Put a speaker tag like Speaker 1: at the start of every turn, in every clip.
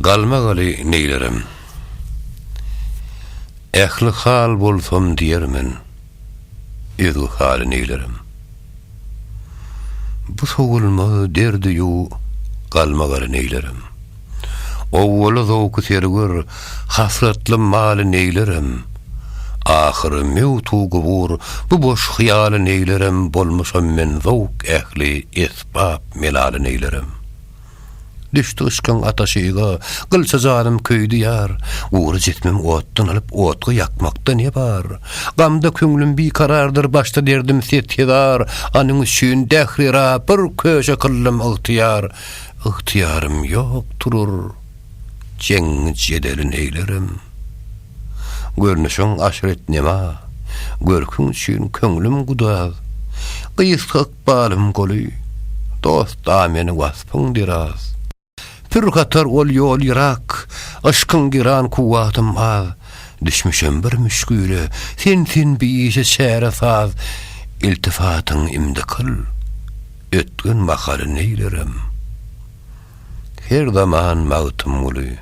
Speaker 1: Galmagaly neýlerem. Ähli hal bolsam diýer men. Özge haly neýlerem. Bu sowulmaz derdi-ýu galmagaly neýlerem. Owwaly zowky serwer, hasratly maly neýlerem. Ahyry möwt-u gubur, bu boş hyýaly neýlerem bolmuşam men zowk ähli esbap melaly neýlerem. Düşdi yşkyň ataşy yza, Gylça janym köýdi ýar. Gury jismim otdan alyp, Otga ýakmakda ne bar? Gamda köňlüm bikarardyr, Başda derdim set-hezar. Anyň üçin Dähri-ra Bir köşe kyldym ygtyýar. Ygtyýarym ýok turur, Jeň-jedeli neýlerim? Görnüşiň aşret-nema, Görküň üçin köňlüm gudaz. Gysga Ykbalym goly, dost-a meni waspyň biraz. Pür gatar ol ýol ýyrak, yşkyň giran kuwwatym az. Düşmüşem bir müşgile, sensin biýişe çäre saz. Iltifatyň imdi kyl, ötgen mahaly neýlerim. Her zaman Magtymguly.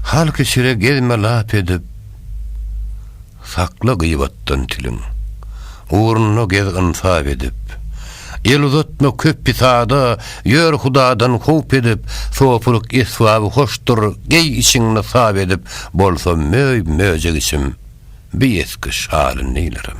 Speaker 1: Halky çire gezme lap edip. Sakla gyýbatdan tiliň. Ugruna gez ynsap edip. El uzatma köp pisada, Ýör Hudadan howp edip. Sopylyk esbaby hoşdur, Geý içiň nysap edip. Bolsa möý, möjek içim, Bi esgi şaly neýlerin.